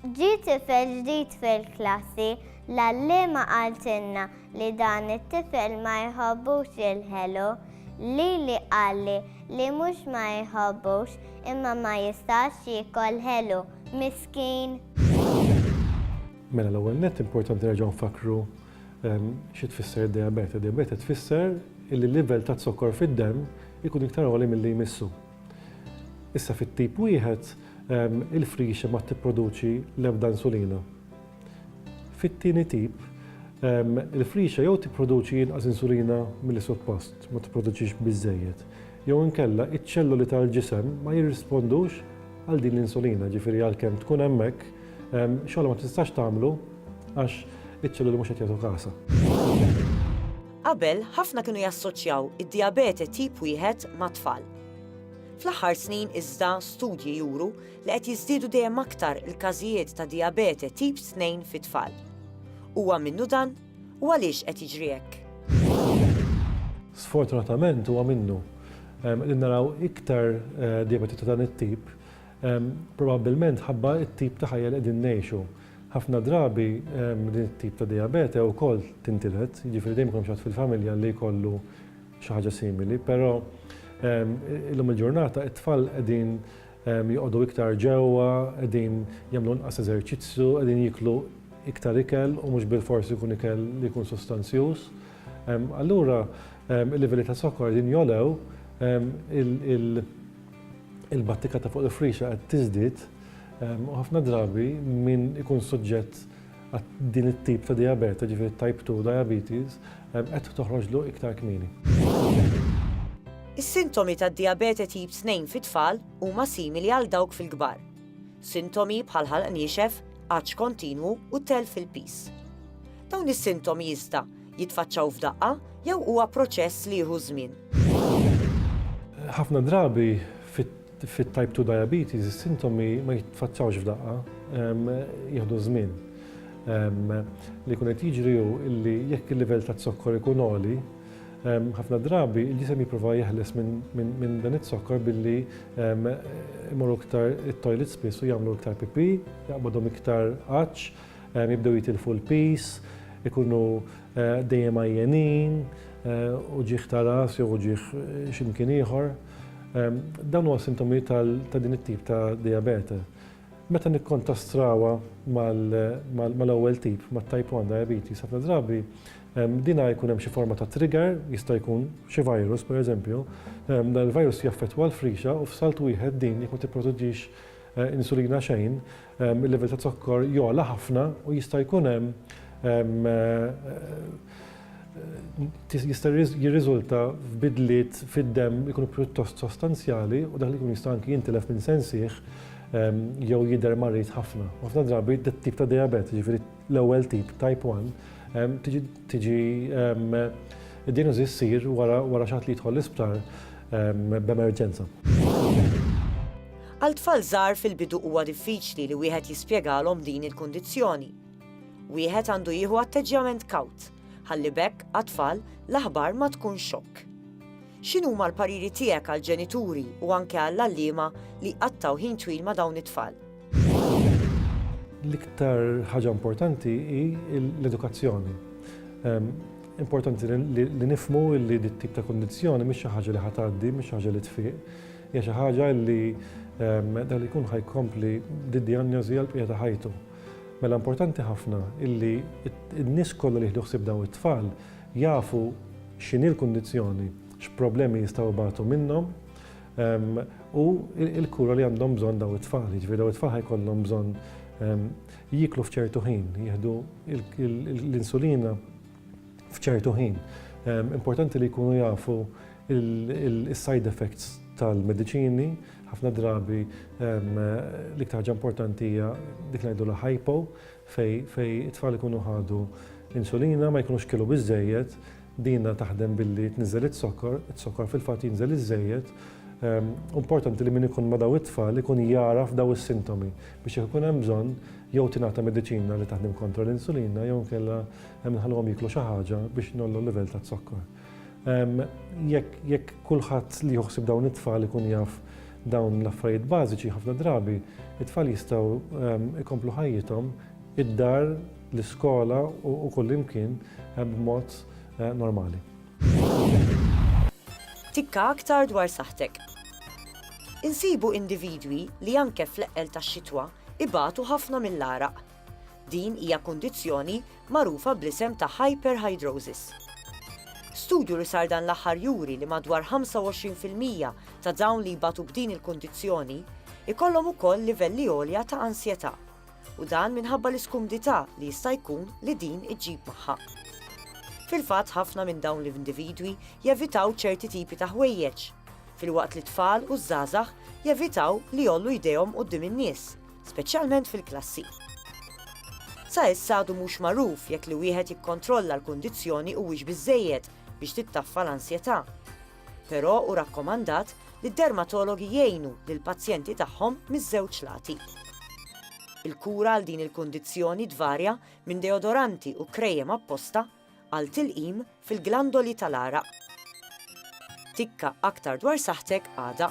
Ġie tifel ġdid fil-klassi, l-għalliema qaltilna li dan it-tifel ma jħobbux jilħelu. Lili qalli li mhux ma jħobbux imma ma jistax jiekol ħelu. Miskin! Mela l-ewwel nett importanti nerġgħu nfakkru xi tfisser id-dijabete. Dijabete tfisser illi l-livell taz-zokkor fid-demm ikun iktar għoli milli jmissu. Issa fit-tip wieħed, il-frixa ma tipproduċi l-ebda insulina. Fit-tieni tip, il-frixa jew tipproduċi inqas insulina milli suppost, ma tipproduċix biżżejjed, jew inkella iċ-ċelloli tal-ġisem ma jirrispondux għal din l-insulina, ġifieri għalkemm tkun hemmhekk, xogħolha ma tistax tagħmlu għax iċ-ċelloli mhux qed jagħtu kasha. Qabel, ħafna kienu jassoċjaw id-dijabete tip wieħed mat-tfal. Fl-aħħar snin iżda studji juru li qed jiżdiedu dejjem aktar il-każijiet ta' dijabete tip tnejn fit-tfal. Huwa minnu dan, u għaliex qed jiġri hekk? Sfortunatament huwa minnu. Qegħdin naraw iktar dijabete ta' dan it-tip Probabbilment mħabba t-tip ta' ħajja li qegħdin ngħixu. Ħafna drabi din it-tip ta' dijabete wkoll tintiled, jiġifieri dejjem ikun hemm xi ħadd fil-familja li jkollu xi ħaġa simili, però illum il-ġurnata t-tfal qegħdin joqogħdu iktar ġewwa, qegħdin jagħmlu inqas eżerċizzju, qegħdin jieklu iktar ikel u mhux bilfors ikun ikel li jkun sostanzjuż. Allura il-livelli ta' zokkor qegħdin jogħlew, il-battika ta' fuq il-frixa qed tiżdied u ħafna drabi min ikun suġġett għal din it-tip ta' dijabete, ġifieri type 2 diabetes, qed toħroġlu iktar kmieni. Is-sintomi tad-dijabete tip 2 fit-tfal huma simili għal dawk fil-kbar. Sintomi bħal ħalq niexef, għatx kontinwu u telf fil-piż. Dawn is-sintomi iżda Jitfaċċaw f'daqqa jew huwa proċess li jieħu żmien? Ħafna drabi fit-type 2 diabetes is-sintomi ma jitfaċċawx f'daqqa, jieħdu żmien. Li jkun qed jiġri hu li jekk il-livell taz-zokkor ikun għoli, ħafna drabi il-ġisem jipprova jeħles minn dan iz-zokkor billi imorru iktar it-toilet spiss u jagħmlu iktar pipì, jaqbadhom iktar għatx, Jibdew jitilfu l-piż, ikunu dejjem għajjenin, uġigħ ta' ras jew uġigħ xi mkien ieħor. Dawn huma sintomi ta' din it-tip ta' dijabete. Meta nikkontastrawha mal-ewwel tip, mat-type 1 diabetes, ħafna drabi din jkun hemm xi forma ta' trigger, jista' jkun xi virus pereżempju, dan il-virus jaffettwa l-frixa u f'salt wieħed din jekk ma tipproduċix Insulina xejn, il-livell ta' zokkor jogħla ħafna u jista' jkun hemm jista' jirriżulta f'bidliet fid-demm li jkunu pjuttost sostanzjali u dak li jkun jista' anki jintilef minn sensih jew jidher marid ħafna. Ħafna drabi dat-tip ta' dijabete, jiġifieri L-ewwel tip, type 1, tiġi id-diagnosi ssir wara xaħat li jidħol l-isptar b'emerġenza. Għal tfal żgħar fil-bidu huwa diffiċli li wieħed jispjegalhom din il-kundizzjoni. Wieħed għandu jieħu atteġġjament kawt, ħalli bekk għat-tfal l-aħbar ma tkun xokk. X'inhuma l-pariri tiegħek għall-ġenituri u anke għall-għalliema li qattaw ħin twil ma' dawn it-tfal? L-iktar ħaġa importanti hi l-edukazzjoni. Ehm, importanti li nifmu li dit tip ta' kondizjoni mhix xi ħaġa li ħatgħaddi, mhix xi ħaġa li tfiq, hija xi ħaġa li ehm, dan ikun ħajkompli d-dijanjożi għal bqija ta' ħajtu. Mela importanti ħafna illi n-nies kollha li jieħdu ħsieb daw it-tfal jafu x'inhi l-kundizzjoni, x'problemi jistgħu batu minnhom, u l-kura li għandhom bżonn dawn it-tfal. Jiġifieri dawn it-tfal ħajkollhom bżonn jieklu f'ċertu ħin, jieħdu l-insulina f'ċertu ħin. Importanti li jkunu jafu il-side effects tal-mediċini, ħafna drabi l-iktar ħaġa importanti hija dik ngħidu la hypo fej it-tfal ikunu ħadu insulina ma jkunux kilu biżejjed, Dina taħdem billi tniżżel iz-zokkor, iz-zokkor fil-fatt jinżel iż-żejjed. U importanti li min ikun ma' daw it-tfal ikun jagħraf daw is-sintomi biex jekk ikun hemm bżonn jew tingħata mediċina li taħdem kontra l-insulina jew inkella nħalluhom jieklu xi ħaġa biex ngħollu l-livell taz-zokkor. Jekk jekk kulħadd li jieħu ħsieb dawn it-tfal ikun jaf dawn l-affarijiet bażiċi ħafna drabi it-tfal jistgħu jkomplu ħajjithom id-dar, l-iskola u kullimkien b'mod normali. Tikka aktar dwar saħħtek. Insibu individwi li anke fl-eqqel tax-xitwa ibatu ħafna mill-għaraq. Din hija kundizzjoni magħrufa bl-isem ta' hyperhidrosis. Studju li sar dan l-aħħar juri li madwar 25 fil-mija ta' dawn li jbatu b'din il-kundizzjoni jkollhom ukoll livelli għolja ta' ansjetà. u dan minħabba l-iskumdità li jista' jkun li din iġġib magħha. Fil-fatt ħafna minn dawn l-individwi jevitaw ċerti tipi ta' ħwejjeġ, filwaqt li t-tfal u ż-żgħażagħ jevitaw li jgħollu jdejhom quddiem in-nies, speċjalment fil-klassi. Sa issa għadu mhux magħruf jekk li wieħed jikkontrolla l-kundizzjoni huwiex biżżejjed biex tittaffa l-ansjetà. Però hu rakkomandat li d-dermatologi jgħinu lill-pazjenti tagħhom miż-żewġ lati. Il-kura għal din il-kundizzjoni tvarja minn deodoranti u krejem apposta għal tilqim fil-glandoli tal-għaraq. Tikka aktar dwar saħħtek għada.